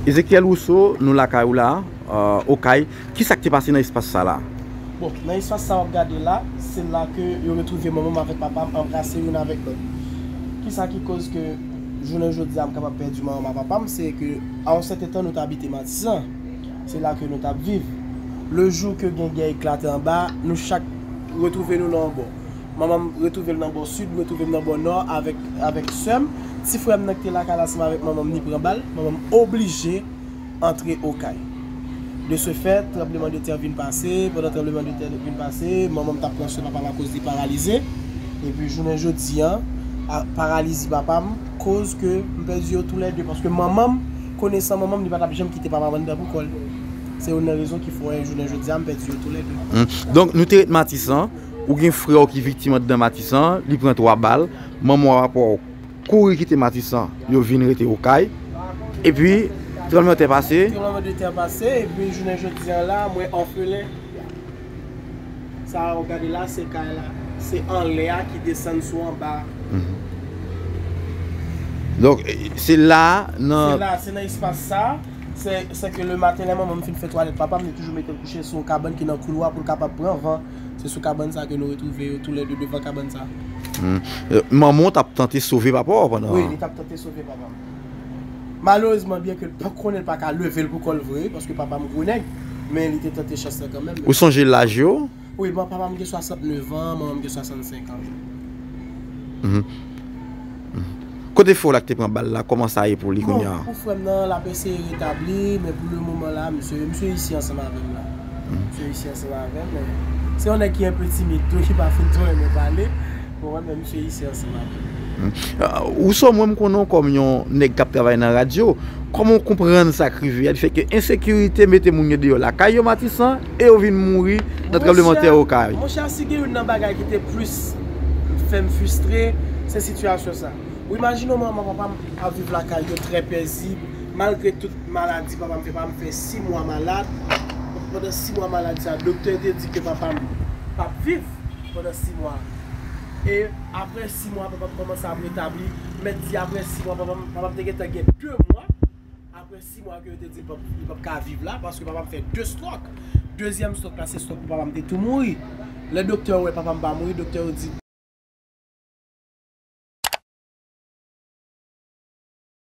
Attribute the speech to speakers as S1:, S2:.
S1: Ezechiel Rousseau, nou lakay ou la, Okay, ki sa k te pase nan espas sa la? Bon, nan espas
S2: sa w ap gade la, se la ke yo retwouve manman m avèk papa m anbrase youn avèk lòt. Ki sa ki koz ke jounen jodi a m kapab pèdi manman m ak papa m, se ke a yon sèten tan nou te abite Matisan, se la ke nou t ap viv. Lejou ke gen gè eklate anba a, nou chak retwouve nou nan yon bò. Manman m retwouve l nan bò sid, mwen twouve m nan bò nò avèk avèk sè m. Ti frè m nan ki te lakay la ansanm avèk manman m ni pran bal, manman m oblije antre Okay. De se fè, tranbleman de tè vin pase, pandan tranbleman de tè vin pase, manman m t ap pran swen papa m akoz li paralize. Epi jounen jodi an, a paralizi papa m koz ke m pèdi yo tou lè de paske manman m, konesan manman m li pa t ap janm kite papa m anndan pou kò l. Se youn nan rezon ki fè jounen jodi a m pèdi yo tou lè de. Donk nou te ret Matisan.
S1: Ou gen frè w ki viktim andan matisan li pran 3 bal manman w apa w kouri kite matisan yo vin rete okay epi tranbleman tè pase. Tranbleman de tè pase
S2: epi jounen jodi an la mwen òfelen sa a ou gade la se kay la se anlè a ki desann sou anba a.
S1: Donk se la a nan. Se la a se nan espas sa
S2: a se ke le maten lè manman m fin fè twalèt papa m li toujou mete l kouche sou yon kabann ki nan koulwa pou l kapab pran van. Se sou kabann sa ke nou retwouve yo tou lè de devan kabann sa.
S1: Manman w t ap tante sove papa w pandan. Wi, li t ap tante sove
S2: papa m. Malerezman, byen ke l pa t konnen, l pa ka leve l pou kò l vre, paske papa m gwo nèg, men li te tante chans lan kanmenm. Ou sonje laj yo?
S1: Wi, papa m gen
S2: 69 an, manman m gen 65 an.
S1: Kote frè w la ki te pran bal la, kòman sa ye pou li kounya? Bon, pou frè m nan, l
S2: ap eseye retabli, men pou le moman la, misye, misye isi ansanm avè m la. Misye isi ansanm avè m, men, se yon nèg ki enpe timid tou, ki pa fin twò renmen pale, ou konprann, men misye isi ansanm avè m. Ou sò, mwen m konnen
S1: w kòm yon nèg k ap travay nan radyo, kòman w konprann sa k rive a, di fè ke ensekirite mete moun yo deyò lakay yo Matisan, e yo vin mouri nan tranblemanntè Okay? Monchè, monchè, si gen youn nan bagay
S2: ki te plis. fèm fustre se sitiyasyon sa. Ou imajine w manman papa m ap viv lakay yo trè pèzib malgre tout maladi papa m fè, papa m fè 6 mwa malad, pandan 6 mwa malad sa doktè te di ke papa m pap viv pandan 6 mwa e aprè 6 mwa papa m kòmanse ap retabli, mèt di aprè 6 mwa papa m te gentan gen 2 mwa. Aprè 6 mwa ke yo te di li pap ka viv la, paske papa m fè 2 stròk. Dezyèm stròk la se stròk pou papa m te tou mouri. Lè doktè yo wè papa m pa mouri, doktè yo di.